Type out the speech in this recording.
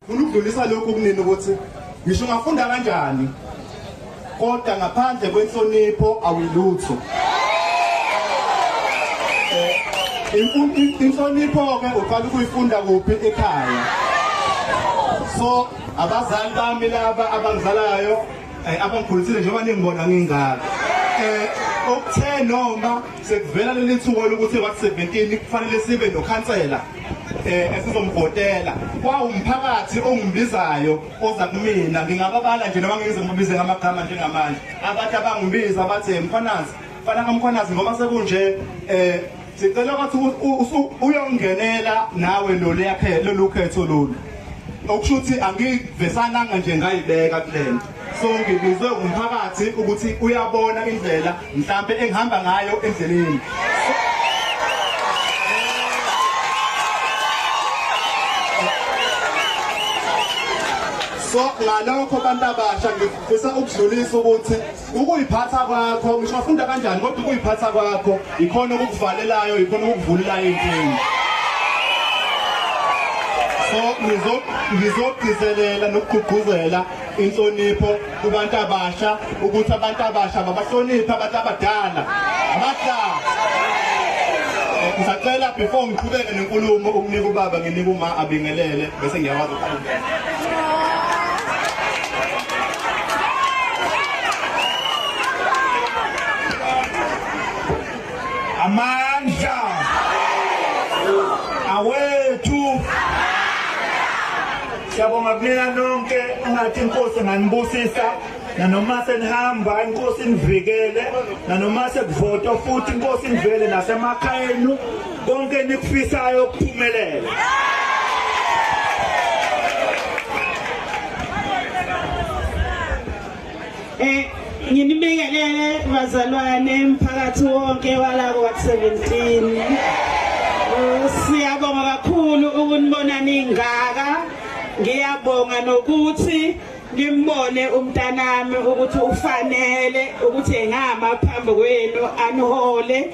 Funa ukudlulisa lokhu kunini ukuthi ngisho ungafunda kanjani kodwa ngaphandle kwenhlonipho awilutho. Eh, inhlonipho-ke uqala ukuyifunda kuphi ekhaya so abazali bami laba abangizalayo eh, abangikhulisile njengoba ningibona ngingaka um eh, okuthe noma Sekuvela leli thuba lokuthi ebat 17 kufanele sibe nokhansela eh esizombhotela kwawumphakathi ongibizayo oza kumina ngingababala nje noma ngize ngibize ngamagama njengamanje abathi abangibiza bathi mkhwanazi fana kamkhwanazi ngoba sekunje eh sicela ukuthi uyongenela nawe lo leyakhe lolukhetho lolu okusho ukuthi angivesananga nje ngayibeka kulento so ngibizwe umphakathi ukuthi uyabona indlela mhlambe engihamba ngayo endleleni so ngalokho abantu abasha ngifisa ukudlulisa ukuthi ukuyiphatha kwakho ngisho wafunda kanjani kodwa ukuyiphatha kwakho ikhona okukuvalelayo ikhona okukuvulelayo inkinga so ngizogcizelela nokugqugquzela inhlonipho kubantu abasha ukuthi abantu abasha babahloniphe abantu abadala abahlala ngisacela before ngiqhubeke nenkulumo ukunika ubaba nginika uma abingelele bese ngiyakwazi ukuqhubeka amandla awethu Siyabonga kunina nonke ungathi inkosi nganibusisa nanoma senihamba inkosi nivikele nanoma sekuvota futhi inkosi nivele nasemakhaya enu konke nikufisayo ukuphumelela Eh nginibingelele bazalwane mphakathi wonke walako wa 17. Siyabonga kakhulu ukunibona ningaka. Ngiyabonga nokuthi ngimbone umntanami ukuthi ufanele ukuthi engama phambi kwenu anihole